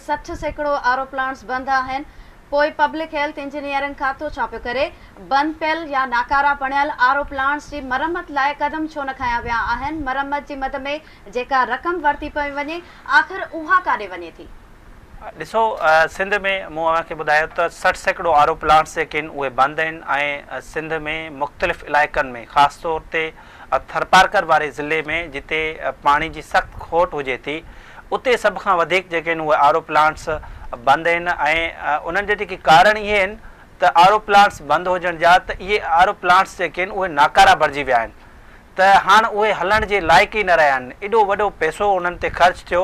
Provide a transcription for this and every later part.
سٺ سيڪڙو R O plants بند آهن، پوء پبلڪ هيلٿ انجنيئرنگ کاتو ڇا پيو ڪري؟ بند پيل يا ناڪارا پڻيل آر او پلانٽس جي مرمت لاء قدم ڇو نه کنيا ويا آهن؟ مرمت جي مد ۾ جيڪا رقم ورتي پئي وڃي، آخر اها ڪاڏي وڃي ٿي؟ ڏسو سنڌ ۾ مون اوهان کي ٻڌايو ته سٺ سيڪڙو آر او پلانٽس جيڪي آهن اهي بند آهن ۽ سنڌ ۾ مختلف علائقن ۾ خاص طور تي ٿرپارڪر واري ضلعي ۾ جتي پاڻي جي سخت کوٽ هجي ٿي اتي سڀ کان وڌيڪ جيڪي آهن اهي آر او پلانٽس بند آهن ۽ انهن جا جيڪي ڪارڻ اهي آهن ته آر او پلانٽس بند هجڻ جا ته اهي آر او پلانٽس جيڪي آهن اهي ناڪارا بڻجي ويا آهن ته هاڻ اهي هلڻ جي لائق ئي نه رهيا آهن ايڏو وڏو پئسو انهن تي خرچ ٿيو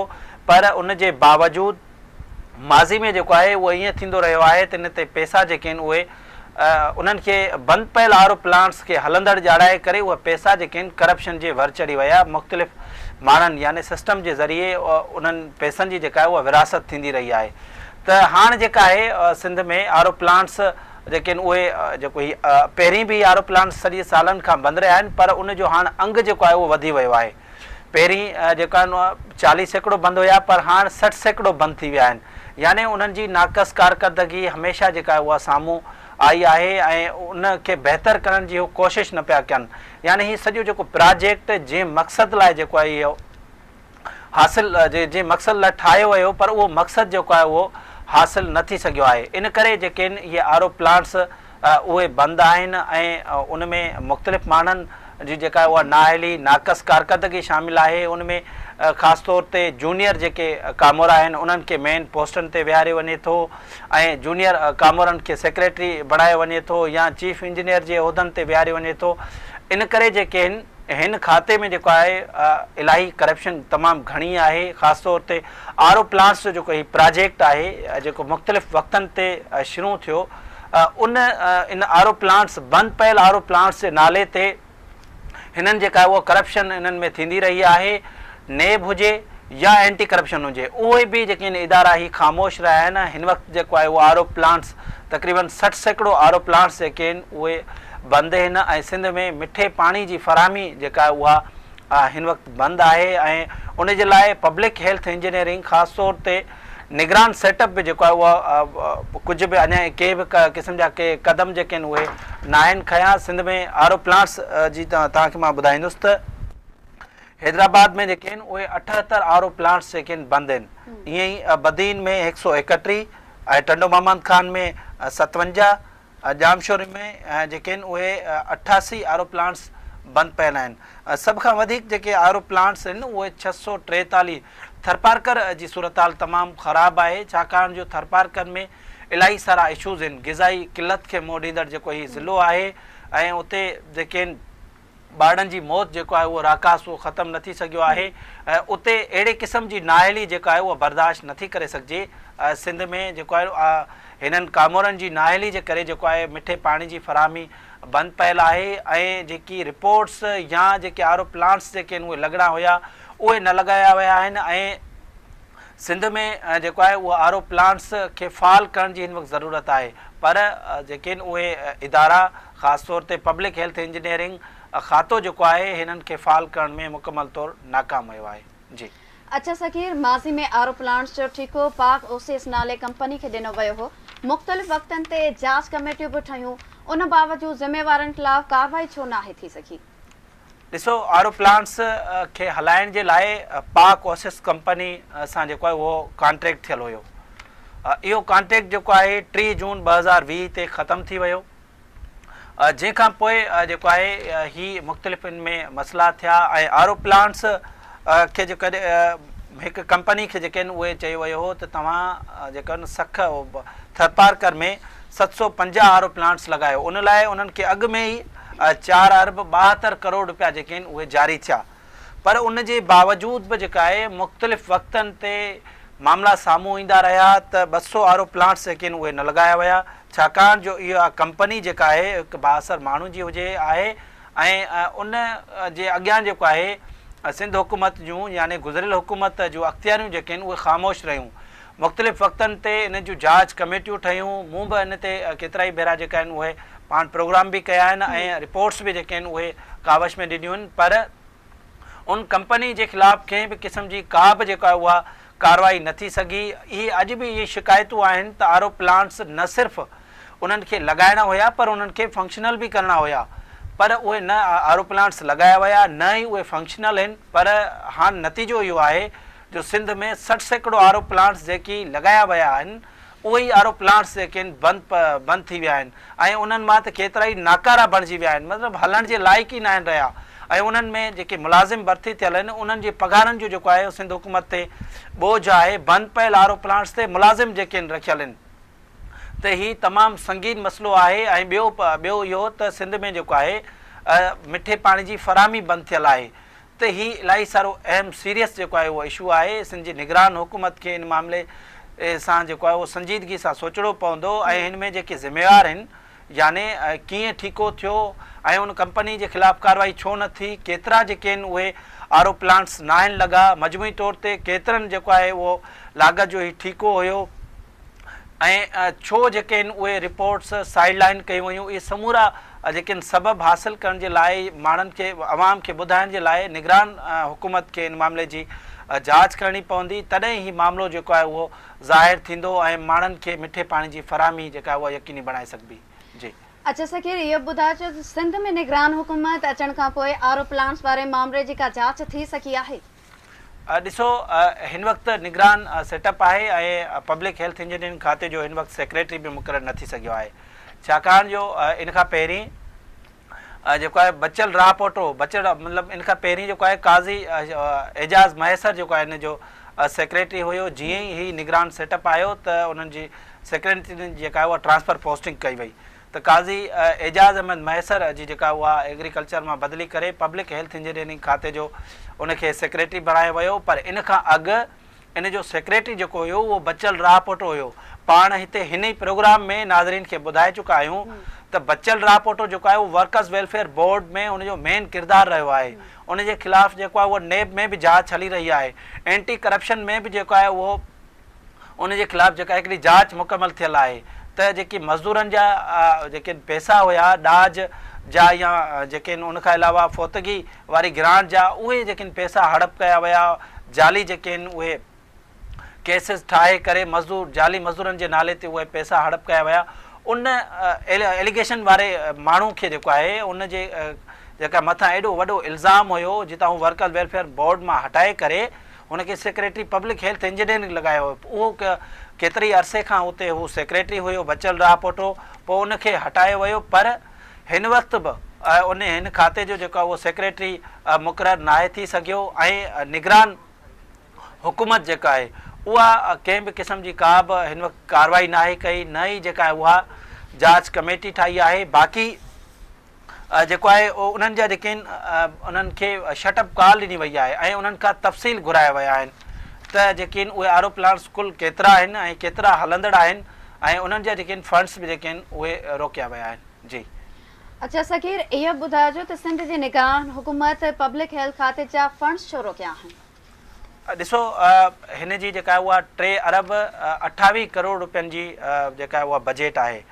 پر ان جي باوجود ماضي ۾ جيڪو آهي اهو ائين ٿيندو رهيو آهي ته ان تي پئسا جيڪي آهن اهي انهن کي بند پيل آر او پلانٽس کي هلندڙ ڄاڻائي ڪري اهي پئسا جيڪي آهن ڪرپشن جي ور چڙهي ويا مختلف ماڻهن يعني سسٽم جي ذريعي انهن پئسن جي جيڪا آهي اها ورهاست ٿيندي رهي آهي ته هاڻ جيڪا آهي سنڌ ۾ آر او پلانٽس جيڪي آهن اهي جيڪو هي پهرين به آر او پلانٽس سڄي سالن کان بند رهيا آهن پر ان جو هاڻ انگ جيڪو آهي اهو وڌي ويو آهي پهرين جيڪا آهن اها چاليهه سيڪڙو بند هيا پر هاڻ سٺ سيڪڙو بند ٿي ويا آهن يعني انهن جي ناقص ڪارڪردگي هميشه جيڪا آهي اها سامهون آئي آهي ۽ ان کي بهتر ڪرڻ جي هو ڪوشش نه پيا ڪن يعني هي سڄو جيڪو پراجيڪٽ جنهن مقصد لاء جيڪو آهي اهو حاصل جنهن مقصد لاء ٺاهيو ويو پر اهو مقصد جيڪو آهي اهو حاصل نه ٿي سگهيو آهي ان ڪري جيڪي آهن اهي آر او پلانٽس اهي بند آهن ۽ ان ۾ مختلف ماڻهن جي جيڪا اها نااهلي، ناقص ڪارڪردگي شامل آهي، ان ۾ خاص طور تي جونيئر جيڪي ڪامورا آهن انهن کي مين پوسٽن تي ويهاريو وڃي ٿو ۽ جونيئر ڪامورن کي سيڪريٽري بڻايو وڃي ٿو يا چيف انجنيئر جي عهدن تي ويهاريو وڃي ٿو ان ڪري جيڪي هن هن کاتي ۾ جيڪو آهي الاهي ڪرپشن تمام گهڻي آهي خاص طور تي آر او پلانٽس جو جيڪو هي پراجيڪٽ آهي جيڪو مختلف وقتن تي شروع ٿيو ان ان آر او پلانٽس بند پيل آر او پلانٽس جي نالي تي هنن جيڪا اهو ڪرپشن هنن ۾ ٿيندي رهي آهي نيب هجي يا اينٽي ڪرپشن هجي اهي به جيڪي ان ادارا هي خاموش رهيا آهن هن وقت جيڪو آهي اهو آر او پلانٽس تقريبن سٺ سيڪڙو آر او پلانٽس جيڪي آهن اهي بند آهن ۽ سنڌ ۾ مٺي پاڻي جي فراهمي جيڪا آهي اها هن وقت بند آهي ۽ ان جي لاء پبلڪ هيلٿ انجنيئرنگ خاص طور تي نگران سيٽ اپ به جيڪو آهي اهو ڪجهه به اڃا ڪي به قسم جا ڪي قدم جيڪي آهن اهي ناهن کنيا سنڌ ۾ آر او پلانٽس جي توهان کي مان ٻڌائيندس ته حيدرآباد ۾ جيڪي آهن اهي اٺهتر آر او پلانٽس جيڪي آهن بند آهن ائين ئي بدين ۾ هڪ سؤ ايڪٽيهه ۽ ٽنڊو محمد خان ۾ ستونجاهه ڄامشوري ۾ جيڪي آهن اهي اٺاسي آر او پلانٽس بند پيل آهن، سڀ کان وڌيڪ جيڪي آر او پلانٽس آهن اهي ڇهه سؤ ٽيتاليهه، ٿرپارڪر جي صورتحال تمام خراب آهي ڇاڪاڻ جو ٿرپارڪر ۾ الاهي سارا اشوز آهن، غذائي قلت کي منهن ڏيندڙ جيڪو هي ضلعو آهي ۽ اتي جيڪي آهن. ٻارڙن جي موت جيڪو آهي اهو راڪاس اهو ختم نه ٿي سگهيو آهي ۽ اتي اهڙي قسم جي نااهلي جيڪا آهي اها برداشت نه ٿي ڪري سگهجي سنڌ ۾ جيڪو آهي هنن ڪامورن جي نااهلي جي ڪري جيڪو آهي مٺي پاڻي جي فراهمي بند پيل آهي ۽ جيڪي رپورٽس يا جيڪي آر او پلانٽس جيڪي آهن اهي لڳڻا هيا اهي نه لڳايا ويا آهن ۽ سنڌ ۾ جيڪو آهي اهو آر او پلانٽس کي فعال ڪرڻ جي هن وقت ضرورت آهي پر جيڪي آهن اهي ادارا خاص طور تي پبلڪ هيلٿ انجنيئرنگ کاتو جيڪو آهي هنن کي فعال ڪرڻ ۾ مڪمل طور ناڪام ويو آهي جي. اچ صغير، ماضي ۾ آر او پلانٽس جو ٺيڪو پاڪ او سي ايس نالي ڪمپني کي ڏنو ويو هو، مختلف وقتن تي جاچ ڪميٽيون به ٺهيون، ان باوجود ذميوارن خلاف ڪارروائي ڇو ناهي ٿي سگهي؟ ڏسو آر او پلانٽس کي هلائڻ جي لاء پاڪ اوسس ڪمپني سان جيڪو آهي اهو ڪانٽريڪٽ ٿيل هيو اهو ڪانٽريڪٽ جيڪو آهي ٽي جون ٻه هزار ويهه تي ختم ٿي ويو جنهن کان پوء جيڪو آهي هي مختلف ان ۾ مسئلا ٿيا ۽ آر او پلانٽس کي جيڪو هڪ ڪمپني کي جيڪي آهن اهي چيو ويو هو ته توهان جيڪو آهن سک ٿرپارڪر ۾ ست سؤ پنجاهه آر او پلانٽس لڳايو ان لاء انهن کي اڳ ۾ ئي چار ارب ٻاهتر ڪروڙ رپيا جيڪي آهن اهي جاري ٿيا پر ان جي باوجود به جيڪا آهي مختلف وقتن تي معاملا سامهون ايندا رهيا ته ٻه سؤ آر او پلانٽس جيڪي آهن اهي نه لڳايا ويا ڇاڪاڻ جو اها ڪمپني جيڪا آهي هڪ بااثر ماڻهو جي هجي آهي ۽ ان جي اڳيان جيڪو آهي سنڌ حڪومت جون يعني گذريل حڪومت جون اختياريون جيڪي آهن اهي خاموش رهيون. مختلف وقتن تي انهن جون جاچ ڪميٽيون ٺهيون، مون به ان تي ڪيترائي ڀيرا جيڪا آهن اهي پاڻ پروگرام به ڪيا آهن ۽ رپورٽس به جيڪي آهن اهي ڪاوش ۾ ڏنيون آهن پر ان ڪمپني جي خلاف ڪنهن به قسم جي ڪا به جيڪا اها ڪارروائي نه ٿي سگهي اهي اڄ به اهي شڪايتون آهن ته آر او پلانٽس نه صرف انهن کي لڳائڻا هيا پر انهن کي فنڪشنل به ڪرڻا هيا پر اهي نه آر او پلانٽس لڳايا ويا نه ئي اهي فنڪشنل آهن پر هاڻ نتيجو اهو آهي جو سنڌ ۾ سٺ سيڪڙو آر او پلانٽس جيڪي لڳايا ويا آهن اهي ئي آر او پلانٽس جيڪي آهن بند پ بند ٿي ويا آهن ۽ انهن مان ته ڪيترائي ناڪارا بڻجي ويا آهن مطلب هلڻ جي لائق ئي ناهن رهيا ۽ انهن ۾ جيڪي ملازم ڀرتي ٿيل آهن انهن جي پگهارن جو جيڪو آهي سنڌ حڪومت تي ٻوجهه آهي بند پيل آر او پلانٽس تي ملازم جيڪي آهن رکيل آهن ته هي تمام سنگين مسئلو آهي ۽ ٻيو پ ٻيو اهو ته سنڌ ۾ جيڪو آهي مٺي پاڻي جي فراهمي بند ٿيل آهي ته هي الاهي سارو اهم سيريس جيڪو آهي اهو اشو آهي سنڌ جي نگران حڪومت کي ان معاملي سان جيڪو آهي اهو سنجيدگي سان سوچڻو پوندو ۽ هن ۾ جيڪي ذميوار هن يعني ڪيئن ٺيڪو ٿيو ۽ ان ڪمپني جي خلاف ڪارروائي ڇو نه ٿي ڪيترا جيڪي هن اهي آر او پلانٽس ناهن لڳا مجموعي طور تي ڪيترن جيڪو آهي اهو لاڳت جو هي ٺيڪو هيو ۽ ڇو جيڪي آهن اهي رپورٽس سائيڊ لائن ڪيون ويون اهي سمورا جيڪي آهن سبب حاصل ڪرڻ جي لاء ماڻهن کي عوام کي ٻڌائڻ جي لاء نگران حڪومت کي ان معاملي جي جاچ ڪرڻي پوندي تڏهن هي معاملو جيڪو آهي اهو ظاهر ٿيندو ۽ ماڻهن کي مٺي پاڻي جي فراهمي جيڪا آهي اها يقيني بڻائي سگهبي جي. اچا سکير اهو ٻڌاء جو سنڌ ۾ نگران حڪومت اچڻ کانپوء آر او پلانٽس واري معاملي جي ڪا جاچ ٿي سگهي آهي؟ ڏسو هن وقت نگران سيٽ اپ آهي ۽ پبلڪ هيلٿ انجنيئرنگ کاتي جو هن وقت سيڪريٽري به مقرر نه ٿي سگهيو آهي ڇاڪاڻ جو ان کان پهرين جيڪو آهي بچل راهه پوٽو بچل مطلب ان کان پهرين جيڪو آهي قاضي اعجاز مهيسر جيڪو آهي ان جو سيڪريٽري هيو جيئن ئي هي نگران سيٽ اپ آيو ته انهن جي سيڪريٽري جيڪا آهي اها ٽرانسفر پوسٽنگ ڪئي وئي ته قاضي اعجاز احمد مهيسر جي جيڪا اها ايگريڪلچر مان بدلي ڪري پبلڪ هيلٿ انجنيئرنگ کاتي جو ان کي سيڪريٽري بڻايو ويو پر ان کان اڳ ان جو سيڪريٽري جيڪو هيو اهو بچل راهپوٽو هيو پاڻ هتي هن ئي پروگرام ۾ ناظرين کي ٻڌائي چڪا آهيون ته بچل راهپوٽو جيڪو آهي اهو ورڪرز ويلفيئر بورڊ ۾ ان جو مين ڪردار رهيو آهي ان جي خلاف جيڪو آهي اهو نيب ۾ به جاچ هلي رهي آهي اينٽي ڪرپشن ۾ به جيڪو آهي اهو ان جي خلاف جيڪا هڪڙي جاچ مڪمل ٿيل آهي ته جيڪي مزدورن جا جيڪي پئسا هيا ڏاج جا يا جيڪي ان کان علاوه فوتگي واري گرانٽ جا اهي جيڪي پئسا هڙپ ڪيا ويا جعلي جيڪي اهي ڪيسز ٺاهي ڪري مزدور جعلي مزدورن جي نالي تي اهي پئسا هڙپ ڪيا ويا ان ايليگيشن واري ماڻهو کي جيڪو آهي ان جي جيڪا مٿان ايڏو وڏو الزام هيو جتان هو ورڪر ويلفيئر بورڊ مان هٽائي ڪري هن کي سيڪريٽري پبلڪ هيلٿ انجنيئرنگ لڳايو هو. اهو ڪيتري ئي عرصي کان اتي هو سيڪريٽري هيو، بچل راهه پٽ هو، پوء ان کي هٽايو ويو، پر هن وقت به ان هن کاتي جو جيڪو اهو سيڪريٽري مقرر ناهي ٿي سگهيو ۽ نگران حڪومت جيڪا آهي اها ڪنهن به قسم جي ڪا به هن وقت ڪارروائي ناهي ڪئي نه ئي جيڪا اها جاچ ڪميٽي ٺاهي آهي باقي جيڪو آهي اهو انهن جا جيڪي آهن انهن کي شٽ اپ ڪال ڏني وئي آهي ۽ انهن کان تفصيل گهرايا ويا آهن ته جيڪي آهن اهي آرو پلانٽس ڪل ڪيترا آهن ۽ ڪيترا هلندڙ آهن ۽ انهن جا جيڪي آهن فنڊس به جيڪي آهن اهي روڪيا ويا آهن جي. اچا صغير اهو به ٻڌائجو ته سنڌ جي نگران حڪومت پبلڪ هيلٿ کاتي جا فنڊس ڇو روڪيا آهن؟ ڏسو هن جي جيڪا اها ٽي ارب اٺاويهه ڪروڙ روپين جي جيڪا اها بجيٽ آهي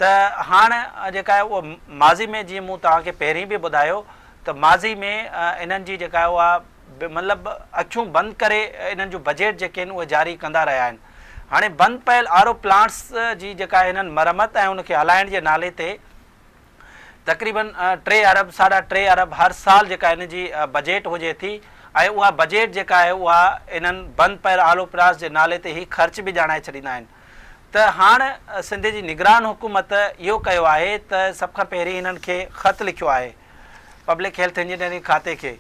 ته هاڻ جيڪا اهو ماضي ۾ جيئن مون توهان کي پهرين به ٻڌايو ته ماضي ۾ انهن جي جيڪا اها مطلب اکيون بند ڪري انهن جون بجيٽ جيڪي آهن اهي جاري ڪندا رهيا آهن هاڻي بند پيل آر او پلانٽس جي جيڪا انهن مرمت ۽ ان کي هلائڻ جي نالي تي تقريبن ٽي ارب ساڍا ٽي ارب هر سال جيڪا هن جي بجيٽ هجي ٿي ۽ اها بجيٽ جيڪا آهي اها انهن بند پيل آلو پراس جي نالي تي هي خرچ به ڄاڻائي ڇڏيندا آهن ته هاڻ سنڌ جي نگران حڪومت اهو ڪيو آهي ته سڀ کان پهرين هنن کي خط لکيو آهي پبلڪ هيلٿ انجنيئرنگ کاتي کي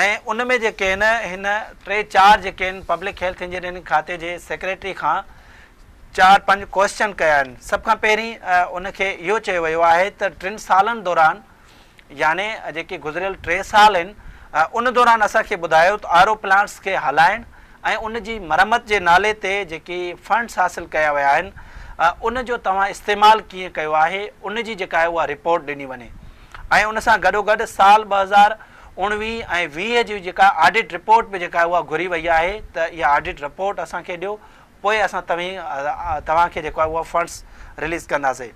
۽ ان ۾ جيڪي هن هن ٽي چار جيڪي هن پبلڪ هيلٿ انجنيئرنگ کاتي جي سيڪريٽري کان چار پنج ڪوئسچن ڪيا آهن سڀ کان پهرين ان کي اهو چيو ويو آهي ته ٽن سالن دوران يعني جيڪي گذريل ٽي سال آهن ان دوران اسان کي ٻڌايو ته آر او پلانٽس کي هلائڻ ۽ ان جي مرمت جي نالي تي جيڪي فنڊس حاصل ڪيا ويا آهن ان جو توهان استعمال ڪيئن ڪيو آهي ان جي جيڪا آهي اها رپورٽ ڏني وڃي ۽ ان سان گڏوگڏ سال ٻه هزار اوڻويهه ۽ ويهه جي جيڪا آڊٽ رپورٽ به جيڪا اها گهري وئي آهي ته اها آڊٽ رپورٽ اسان کي ڏيو پوء اسان توهين توهان کي جيڪو آهي اهو فنڊز رليز ڪنداسين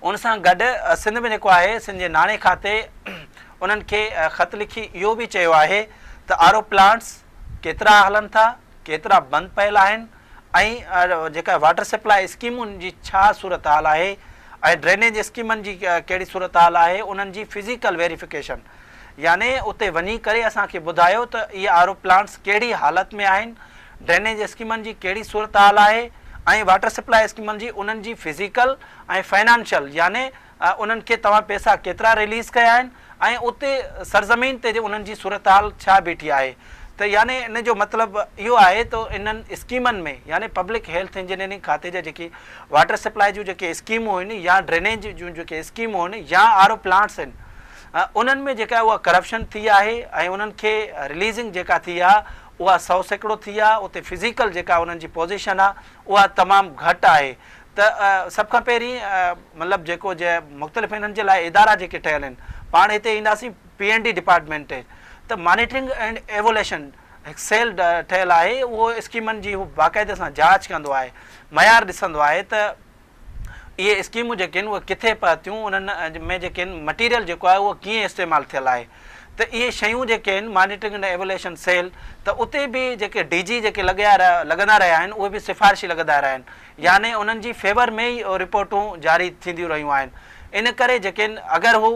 ان سان گڏ سنڌ ۾ جيڪو آهي سنڌ جي ناڻي کاتي انهن کي خط لکي اهو به چيو آهي ته آر او پلانٽس ڪيترا هلن ٿا ڪيترا بند پيل آهن ۽ جيڪا واٽر سپلاء اسڪيمن جي ڇا صورتحال آهي ۽ ڊرينيج اسڪيمن جي ڪهڙي صورتحال آهي انهن جي فزيڪل ويريفڪيشن يعني اتي وڃي ڪري اسان کي ٻڌايو ته اهي آر او پلانٽس ڪهڙي حالت ۾ آهن ڊرينيج اسڪيمن جي ڪهڙي صورتحال آهي ۽ واٽر سپلاء اسڪيمن جي انهن جي فزيڪل ۽ فنانشل يعني انهن کي توهان پيسا ڪيترا رليز ڪيا آهن ۽ اتي سرزمين تي انهن جي صورتحال ڇا بيٺي آهي ته يعني ان جو مطلب اهو آهي ته انهن اسڪيمن ۾ يعني پبلڪ هيلٿ انجنيئرنگ کاتي جا جيڪي واٽر سپلاء جون جيڪي اسڪيمون هن يا ڊرينيج جون جيڪي اسڪيمون هن يا آر او پلانٽس هن انهن ۾ جيڪا اها ڪرپشن ٿي آهي ۽ انهن کي رليزنگ جيڪا ٿي آهي اها سؤ سيڪڙو ٿي آ، اتي فزيڪل جيڪا انهن جي پوزيشن آ اها تمام گهٽ آهي ته سڀ کان پهرين مطلب جيڪو جي مختلف انهن جي لاء ادارا جيڪي ٺهيل آهن پاڻ هتي اينداسين پي اينڊ ڊي ڊپارٽمينٽ ته مانيٽرنگ اينڊ ايوليشن هڪ سيل ٺهيل آهي اهو اسڪيمن جي باقاعدي سان جاچ ڪندو آهي معيار ڏسندو آهي ته اهي اسڪيمون جيڪي آهن اهي ڪٿي پهتيون انهن ۾ جيڪي آهن مٽيريل جيڪو آهي اهو ڪيئن استعمال ٿيل آهي ته اهي شيون جيڪي آهن مانيٽرنگ اينڊ ايوليشن سيل ته اتي به جيڪي ڊي جي جيڪي لڳيا رهيا لڳندا رهيا آهن اهي به سفارشي لڳندا رهيا آهن يعني انهن جي فيور ۾ ئي رپورٽون جاري ٿينديون رهيون آهن ان ڪري جيڪي آهن اگر هو